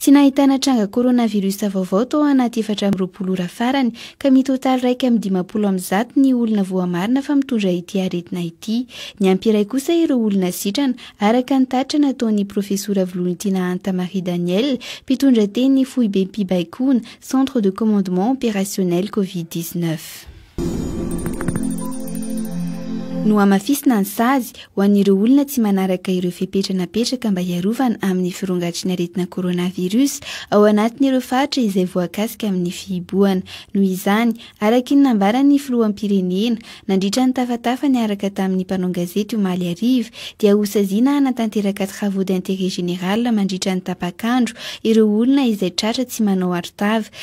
Tsy nahitana tranga coronavirus vaovao tao anaty efatra amby roapolo ora farany ka mitotaly iraika amby dimampolo amin'ny zato ny olona voamarina fa mitondra ity aretina ity. Niampy iray kosa ireo olona sitrana araka ny tatitra nataon'ny profesora Volonitiana Anta Marie Daniel, mpitondra teny foibem-pibaikoana, Centre de Commandement Opérationnel Covid-19. Nohamafisina ny sazy ho an'ireo olona tsy manaraka ireo fepetra napetraka mba hiarovana amin'ny firongatry ny aretina coronavirus ao anatin'ireo faritra izay voakasika amin'ny fihibohana. Noho izany, araka ny nambaran'ny filoham-pirenena, nandritra ny tafatafa niaraka tamin'ny mpanao gazety omaly hariva, dia hosaziana hanatanteraka travaux d'intérêt général mandritra ny tapak'andro ireo olona izay tratra tsy manao arotava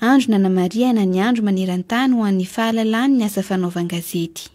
Andro nanamarihana ny Andro maneran-tany ho an'ny fahalalan'ny asa fanaovan-gazety.